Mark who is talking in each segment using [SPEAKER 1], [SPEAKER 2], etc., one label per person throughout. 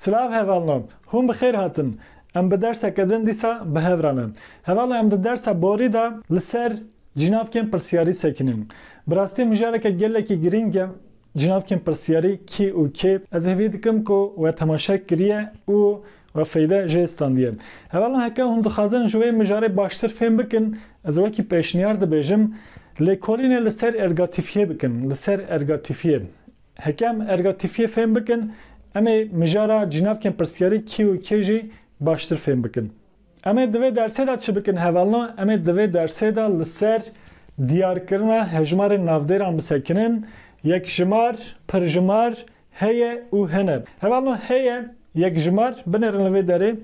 [SPEAKER 1] Silav hevalno, hûn bi xêr hatin. Em bi derseke din dîsa bi hev re ne. Hevalno em di dersa borî de li ser cinavkên pirsiyarî sekinîn. Bi rastî mijareke gelekî girîng e cinavkên pirsiyarî kî û kê? Ez hêvî dikim ku we temaşe kiriye û Ve feyde jê standiye. Hevalan heke hûn dixwazin ji wê mijarê baştir fêm bikin, ez wekî pêşniyar dibêjim, lêkolînê li ser ergatîfiyê bikin, li ser ergatîfiyê. Heke em ergatîfiyê fêm bikin, em ê mijara cînavkên pirsiyarî kî û kê jî baştir fêm bikin. Em ê di vê dersê de çi bikin hevalno? Em ê di vê dersê de li ser diyarkirina hejmarên navdêran bisekinin, yekjimar, pirjimar, Heye û hene. Heval no heye yekjimar, binêrin li vê derê,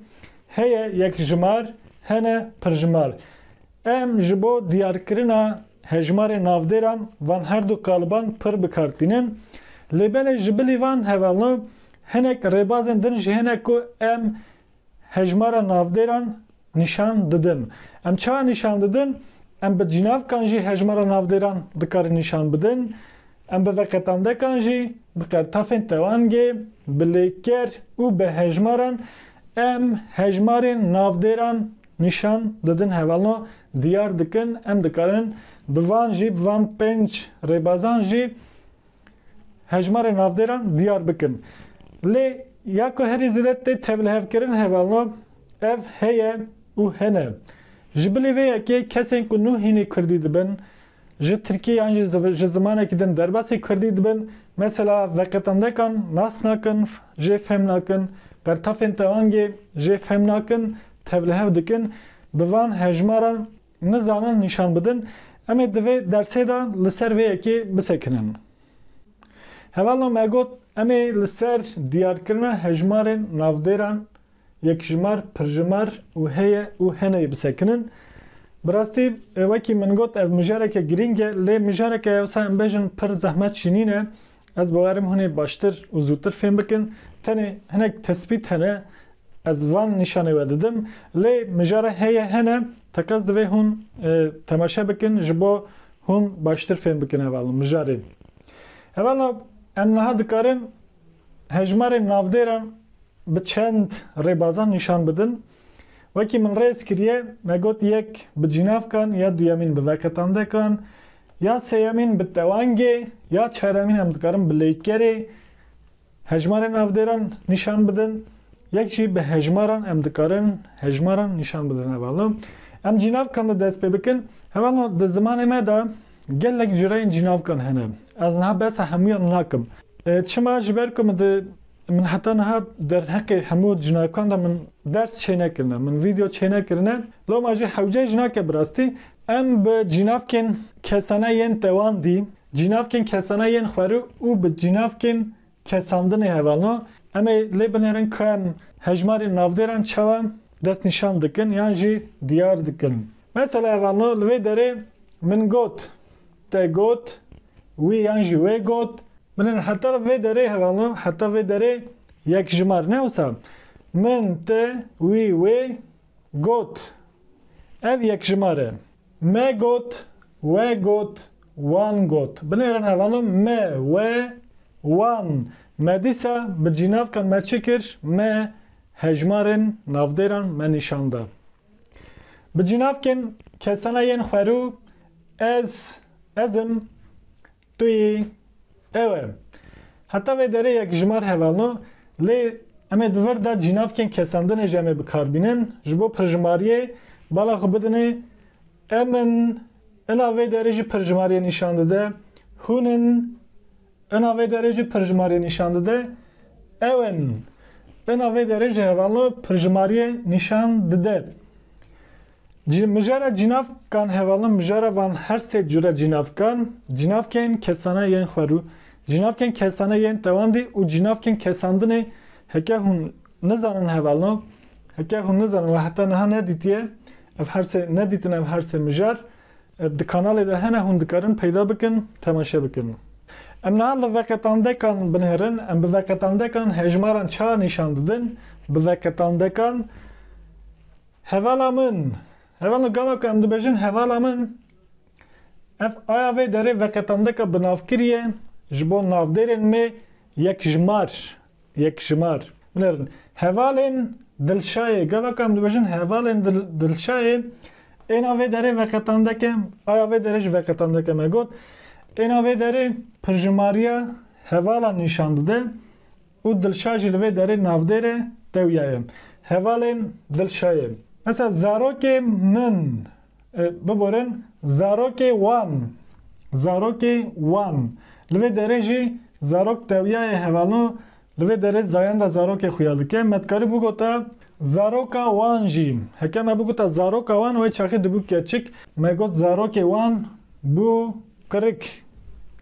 [SPEAKER 1] heye yekjimar, hene pirjimar. Em ji bo diyarkirina hejmarê navdêran van her du qaliban pir bi kar tînin. Lê belê ji bilî van heval no hinek rêbazên din jî hene ku em Hejmara navdêran nîşan didin. Em çawa nîşan didin? Em bi cînavkan jî hejmara navdêran dikarin nîşan bidin. Em bi veqetandekan jî bi qertafên tewangê, bi lêker û bi hejmaran em hejmarên navdêran nîşan didin hevalno diyar dikin. Em dikarin bi van jî bi van pênc rêbazan jî Hejmarê navdêran diyar bikin. Lê ya ku herî zêde tê tevlihevkirin hevalno ev heye û hene. Ji bilî vê yekê kesên ku nû hînî kurdî dibin, ji tirkî yan jî ji zimanekî din derbasî kurdî dibin, mesela veqetandekan nas nakin, jê fêm nakin, qertafên teangê jê fêm nakin, tevlihev dikin, bi van hejmaran Nizanin nîşan bidin. Em ê di vê dersê de li ser vê yekê bisekinin. Hevalna me got em ê li ser diyarkirina hejmarên navdêran, yekjimar, pirjimar û heye û heneyê bisekinin. Bi rastî wekî min got ev mijareke girîng e lê mijareke yewsa em bejin pir zehmet jî nîne. Ez bawer im hûn ê baştir û zûtir fêm bikin. Tenê hinek tespît hene ez van nîşanê we didim. Lê mijara heye hene teqez divê hûn temaşe bikin ji bo hûn baştir fêm bikin heval û mijarê. Heval û em niha dikarin hejmarên navdêran bi çend rêbazan nîşan bidin. Wekî min rêz kiriye me got yek bi cînavkan ya duyemîn bi veketandekan Ya sêyemîn bi tewangê ya çaremîn em dikarin bi leytgerê hejmarê navdêran nîşan bidin, yek jî bi hejmaran em dikarin hejmaran nîşan bidin. Hevalno em cînavkan de dest pê bikin. Hevalno di zimanê me de gelek cureyên cînavkan hene. Ez niha behsa hemûyan nakim. Çima? Ji ber ku min di Min heta niha derheqê hemû jinakan de min ders çênekirine, min vîdeo çênekirine, loma jî hewce jinake bi rastî em bi cînavkên kesane yên tewandî, cînavkên kesane yên xwerû û bi cînavkên kesandinê hevalno. Em ê lê binêrin ku em hejmarên navdêran çawa destnîşan dikin yan jî diyar dikin. Mesela hevalno li vê derê min got Te got, wî yan jî wê got. Min in heta vê derê herano, heta vê derê yek ji mar ne wisa. Min, te, wî, wê, got. Ev yek ji mar e. Me got, we got, wan got. Binêrin herano, me, we, wan. Me dîsa bi cînavkan me çi kir? Me hejmarên navdêran me nîşan da. Bi cînavkên kesana yên xwerû ez, ez im, tu yî, ew erim. Heta vê derê yekjimar hevalno, lê em ê di vir de cînavkên kesandinê jî em ê bikarbînin, ji bo pirjimariyê bala xwe bidinê, em in, ina vê derê jî pirjimariyê nîşan dide, hûn in, Ina vê derê jî pirjimariyê nîşan dide. Ew in. Ina vê derê jî hevalno pirjimariyê nîşan dide. Cî mijara cînav kan hevalno mijara van her sê cure cînav kan, cînavkên kesane yên xwe rû, cînavkên kesane yên tewandî û cînavkên kesandinê heke hûn nizanin hevalno, heke hûn nizanin we heta niha nedîtiye ev her sê nedîtin ev her sê mijar. Ev di kanalê de hene hûn dikarin peyda bikin temaşe bikin. Em niha li veqetandekan binêrin em bi veqetandekan hejmaran çawa nîşan didin bi veqetandekan Hevala min Heval gava ku em dibêjin hevala min ev aya vê derê veqetandeka binavkirî ye ji bo navdêrên me yek ji mar Yekjimar, Binêrin hevalên Dilşayê, gavak em dibêjin hevalên Dilşayê êna vê derê veqetandeke, aya vê derê jî veqetandeke me got, êna vê derê pirjimariya hevalan nîşan dide û Dilşa jî li vê derê navdêr e, tewya ye. Hevalên Dilşayê. Mesela zarokê min. Biborin zarokê wan. Zarokê wan. Li vê derê jî zarok tewiyayê hevalno li vê derê zayenda zarokê xuya dike. Me dikarî bigota zaroka wan jî. Heke me bigota zaroka wan wê çaxê dibû keçik. Me got zarokê wan bû kirik,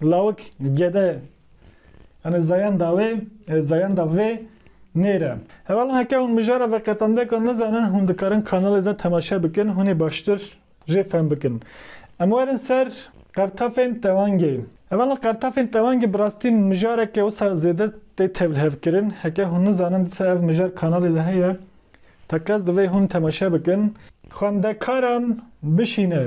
[SPEAKER 1] lawik, gede. Yani zayenda wê, e, zayenda vê nêre. Hevala heke hûn mijara veqetandeka nizanin hûn dikarin kanalê de temaşe bikin, hûnê baştir jê fehm bikin. Em werin ser qertafên tewangê. Hevala qertafên tewangê bi rastî mijareke wisa zêde tê tevlihevkirin. Heke hûn nizanin disa ev mijar kanalê de heye, teqez divê hûn temaşe bikin. Xwendekaran bişîne.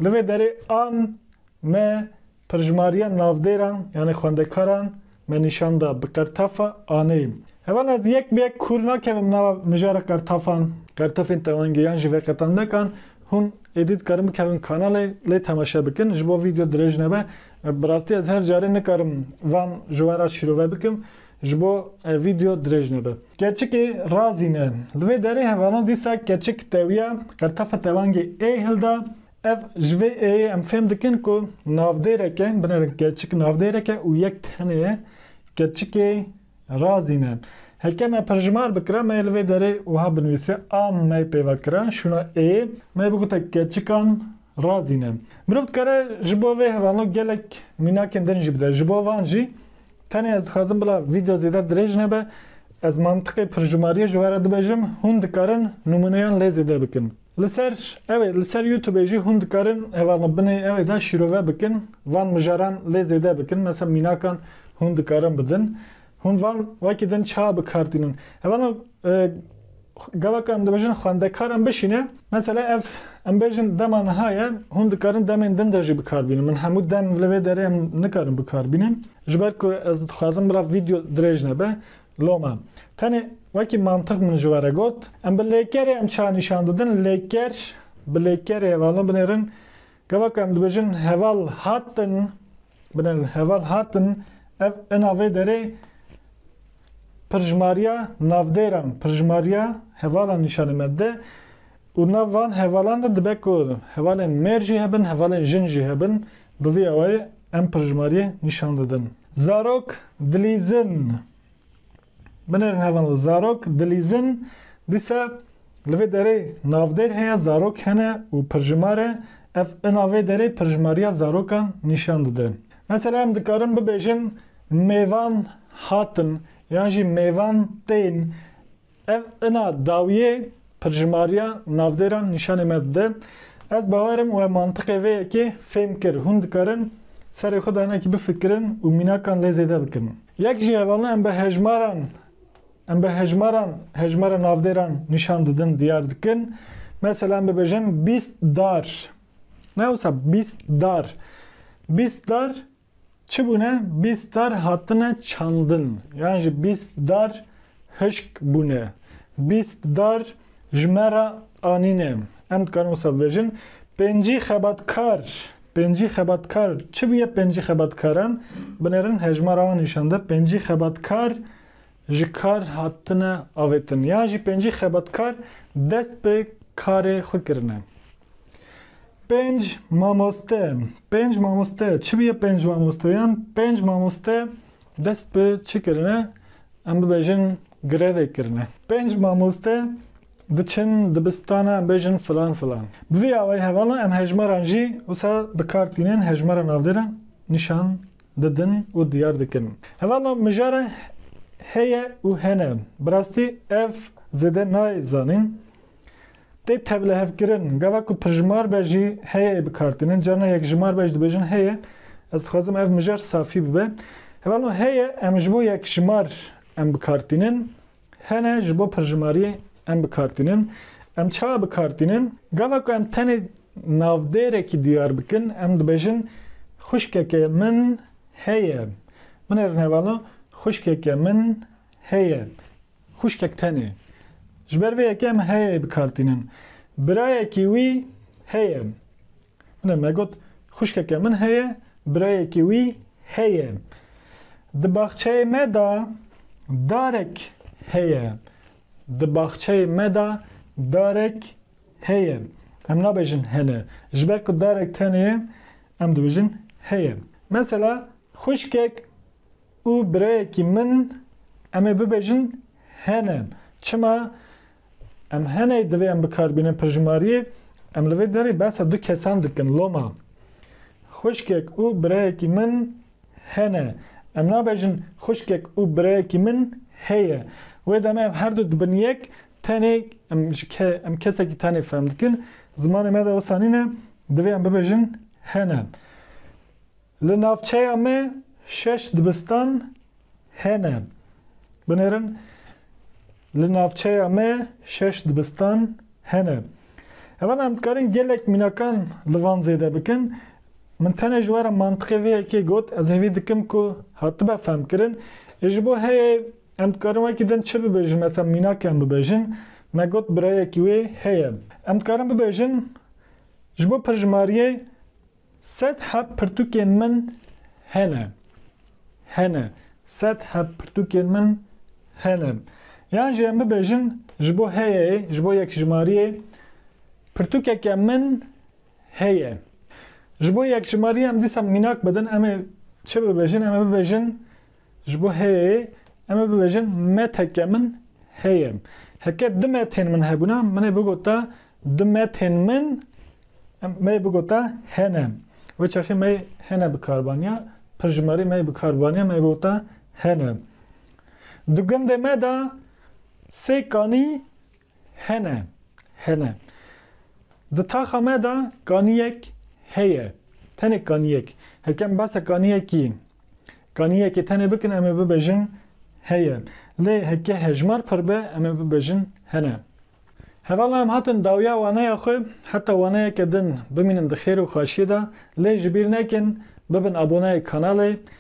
[SPEAKER 1] Li vê derê an me Pirjmariya navdêran yanê xwendekaran me nîşan da bi qertefa aneyî. Heval ez yek bi yek kûr nakevim nava mijara qertefan, qertefên tewengê yan jî veqetandekan. Hûn êdî dikarin bikevin kanalê lê temaşe bikin ji bo vîdeo dirêj nebe. Bi rastî ez her carê nikarim van ji we re şîrove bikim ji bo vîdeo dirêj nebe. Keçikê razî ne. Li vê derê hevalan dîsa keçik tewiya qertefa tewengê ê hilda Ev ji vê êyê em fêm dikin ku navdêreke, binêrin keçik navdêreke û yek tenê ye, keçikê razîn e. Heke me pirjimar bikira me yê li vê derê wiha binivîse, a me pêva kira şûna êyê, me bigote keçikan razîn e. Mirov dikare ji bo vê hevalno gelek mînakên din jî bide. Ji bo van jî tenê ez dixwazim bila vîdeo zêde dirêj nebe, ez mantiqê pirjimariyê ji we re dibêjim, hûn dikarin nûmûneyan lê zêde bikin. Li ser ew ê li ser youtubê jî hûn dikarin heval li binê ew ê de şîrove bikin van mijaran lê zêde bikin mesela mînakan hûn dikarin bidin hûn van wekî din çawa bikar tînin heval gavaka em dibêjin xwendekaran bişîne mesela ev em bêjin dema niha ye hûn dikarin demên din de jî bikar bînin min hemû dem li vê derê em nikarin bikar bînin ji ber ku ez dixwazim bila video dirêj nebe Loma, tenê wekî mantiq min ji we re got, em bi lêkerê em çawa nîşan didin, lêker bi lêkerê hevalin binêrin, gava ku em dibêjin heval hatin, binêrin heval hatin, ev ina vê derê pirjmariya navdêran, pirjmariya hevalan nîşanê me dide û nav van hevalan de dibe ku hevalên mêr jî hebin, hevalên jin jî hebin, Bi vî awayî em pirjimariyê nîşan didin. Zarok dilîzin. Binêrin hev an lo. Zarok dilîzin. Dîsa li vê derê navdêr heye, zarok hene û pirjimar e. Ev ina vê derê pirjimariya zarokan nîşan dide. Mesela em dikarin bibêjin mêvan hatin yan jî mêvan tên. Ev ina dawiyê pirjimariya navdêran nîşanê me dide. Ez bawer im we mantiqê vê yekê fêm kir. Hûn dikarin serê xwe de hinekî bifikirin û mînakan lê zêde bikin. Yek ji hevalina em bi hejmaran em bi hejmaran hejmara navdêran nîşan didin diyar dikin. Mesela em bibêjin bîst dar. Ne wisa bîst dar. Bîst dar Çi bûne? Bîst dar hatine çandin yan jî bîst dar hişk bûne. Bîst dar ji me re anîne. Em dikarin wisa bibêjin. Pêncî xebatkar. Pêncî xebatkar. Çi bûye pêncî xebatkaran? Binêrin hejmara wan nîşan de. Pêncî xebatkar ji kar hatine avêtin yan jî pêncî xebatkar dest bi karê xwe kirine. Pênc mamoste, pênc mamoste, çi bûye pênc mamoste yan pênc mamoste dest bi çi kirine, em bibêjin grevê kirine. Pênc mamoste diçin dibistana em bêjin filan filan. Bi vî awayî hevala em hejmaran jî wisa bi kar tînin hejmara navdêran nîşan didin û diyar dikin. Hevala mijara heye û hene. Bi rastî ev zêde nayê zanîn. Tê tevlihevkirin. Gava ku pirjimar be jî heyeyê bikartînin. Carina yekjimar be jî dibêjin heye. Ez dixwazim ev mijar safî bibe. Hevala heye em ji bo yekjimar em bikartînin. Hene ji bo pirjimariyê em bikartînin. Em çawa bikartînin? Gava ku em tenê navdêrekî diyar bikin, em dibêjin Xwişkeke min heye. Min ê rinevala Xwişkeke min heye. Xwişkek tenê. Ji ber vê yekê em heyeyê bikartînin. Birayekî wî heye. Min e negot, xwişkeke min heye, birayekî wî heye. Di baxçeyê me de darek heye. Di baxçeyê me de darek heye. Em nabêjin hene. Ji ber ku darek tenê ye, em dibêjin heye. Mesela xwişkek û birayekî min em ê bibêjin hene. Çima? Em heney divê em bikarbînin pirjimariyê em li vê derê behsa du kesan dikin loma xwişkek û birayekî min hene em nabejin xwişkek û birayekî min heye wê demê ev herdu dibin yek tenê em ji ke em kesekî tenê fehm dikin zimanê me de wisa nîne divê em bibêjin hene. Li navçeya me şeş dibistan hene. Binêrin, Li navçeya me şeş dibistan hene. Evenda em dikarin gelek mînakan li van zêde bikin. Min tenê ji we re mantiqê vê yekê got, ez hêvî dikim ku hatibe fehmkirin. Ê ji bo heyê em dikarin wekî din çi bibêjin, mesela mînakên bibêjin, me got birayekî wê heye. Em dikarin bibêjin, ji bo pirjimariyê. Sed heb pirtûkên min hene. Hene. Sed heb pirtûkên min hene. Yan jî em bibêjin ji bo heyeyê, ji bo yekjimariyê, Pirtûkeke min heye. Ji bo yekjimariyê em dîsa mînak bidin, em ê çi bibêjin? Em ê bibêjin Ji bo heyê em ê bibêjin meteke min heye. Heke du metên min hebûna, min ê bigota du metên min em me yê bigota hene. Wê çaxê me yê hene bi kar baniya, pir ji marê me yê bi kar baniya, me yê bigota hene. Di gundê me de sê kanî Hene, hene. Di taxa me de kaniyek heye. Tenê kaniyek. Hekem behsa kaniyekî, kaniyekê tenê bikin em ê bibêjin heye. Lê heke hejmar pir be em ê bibêjin hene. Hevala em hatin dawiya waneya xwe heta waneyeke din bimînin di xêr û xaşiyê de lê ji bîr nekin bibin aboneyê kanalê